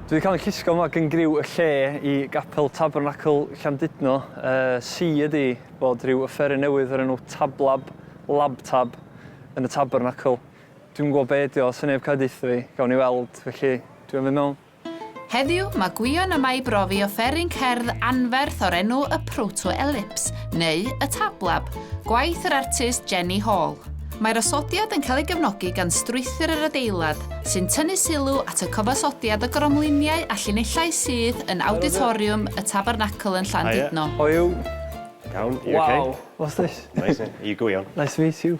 Dwi wedi cael yn llusgo yma gan griw y lle i Gapel Tabernacl Llandudno. Uh, si ydi bod rhyw yfferen newydd o'r enw Tablab, Labtab, yn y Tabernacl. Dwi'n gwybod be ydi o, sy'n neb cael dweud fi, gawn ni weld, felly dwi'n mynd mewn. Heddiw, mae Gwion yma i brofi offeryn cerdd anferth o'r enw y Proto-Ellipse, neu y Tablab, gwaith yr artist Jenny Hall. Mae'r osodiad yn cael ei gefnogi gan strwythur yr adeilad, sy'n tynnu sylw at y cyfansodiad o gromliniau a llinellau sydd yn Awditoriwm y Tabernacl yn Llandudno. Hiya. Hoyw. Iawn, you okay? Wow, what's this? Amazing. Are you Gwion? Nice to meet you.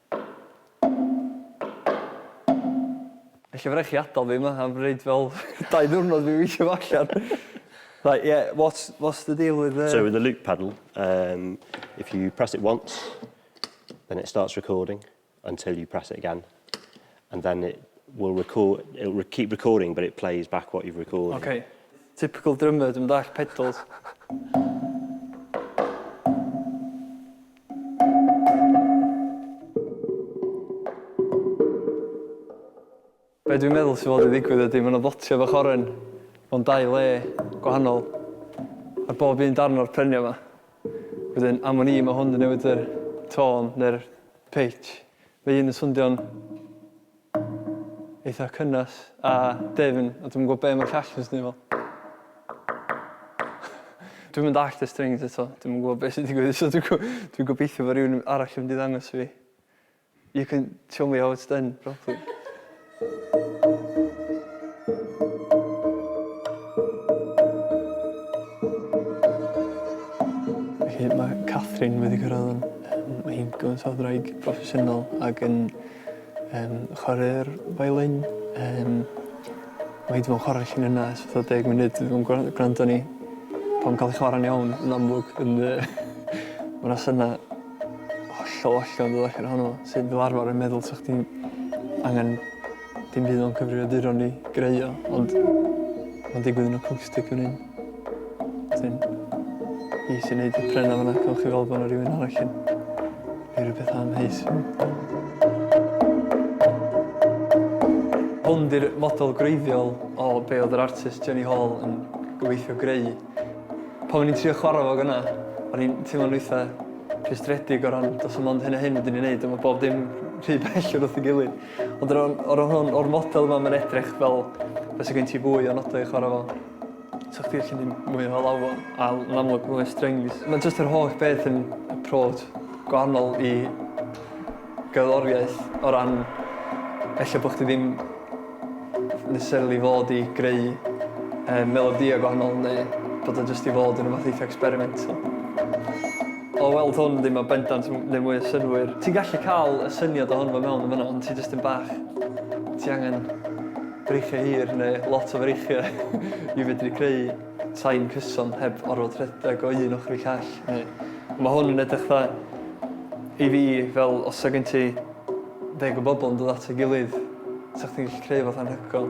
Ella by' rai' chi adal fi 'ma am roid fel dau ddiwrnod fi weithio fo allan. Right yeah what's what's the deal with the... So with the loop paddle um if you press it once then it starts recording until you press it again And then it will record, it'll re keep recording but it plays back what you've recorded. Okay. Typical drummer, dwi'm yn dall pedals. Be dwi'n meddwl sy'n fod i ddigwydd ydy, mae'n ddotio fach oren mewn dau le gwahanol ar bob un darn o'r prenia yma. Wedyn, am o'n i, mae hwn yn newid yr tôn neu'r pitch. Mae un yn swndion eitha cynnes a dwfn a dwi'm yn gwybod be' ma'r llall yn swnio fel. Dwi'm yn dallt y strings eto, dwi'm yn gwybod be' sy'n digwydd so dwi'n dwi'n gobeithio fo' rywun arall yn mynd i ddangos i fi. You can show me how it's done properly. Felly mae Catherine wedi cyrraedd yn... Mae hi'n gymaint o ddraig proffesiynol ac yn yym chware'r violin yym mae 'di bod yn chware felli'n yna ers fatha deg munud dwi 'di bod yn gwra- gwrando arni pan ma'n ca'l 'i chwara'n iawn yn amlwg yn yy ma' 'na syna Hollol, hollol yn ddiolchgar ohono fo. Sydd fel arfar yn meddwl sa chdi'n angen dim byd o'n cyfrifiaduron i greu o, ond mae'n digwydd yn acoustic fan hyn. Wedyn, i sy'n neud y prena fanna, cael chi fel bod yna rhywun arall yn ei rhywbeth am heis. Hwn di'r model gwreiddiol o be oedd yr artist Jenny Hall yn gobeithio greu. Pan o'n i'n trio chwarae fo gyna, o'n i'n teimlo'n eitha rhwystredig o ran do's 'na mond hyn a hyn fedrwn ni neud a ma' bob dim rhy bell o wrth 'i gilydd. Ond o ran o ran hwn o'r model yma ma'n edrych fel bysa gen ti fwy o nodau i chwarae fo. So chdi ellu mynd mwy o lawr fo a l- yn amlwg ma' mwy o strings. Ma' jyst yr holl beth yn approach gwahanol i gerddoriaeth o ran ella bod chdi ddim necessarily fod i greu yy melodïau gwahanol neu bod o jyst i fod yn rwbath eitha experimental. O weld hwn ddim yn bendant yn neud mwy o synnwyr. Ti'n gallu cael y syniad ohono fo mewn yn fan'na ond ti jyst yn bach... ti angen breichiau hir neu lot o freichiau i fedru creu... Tai'n cyson heb orfod rhedeg o un ochr i call neu ma' hwn yn edrych dda i fi fel os sa gen ti ddeg o bobol yn dod at ei gilydd sa chdi'n gallu creu rwbath anhygoel.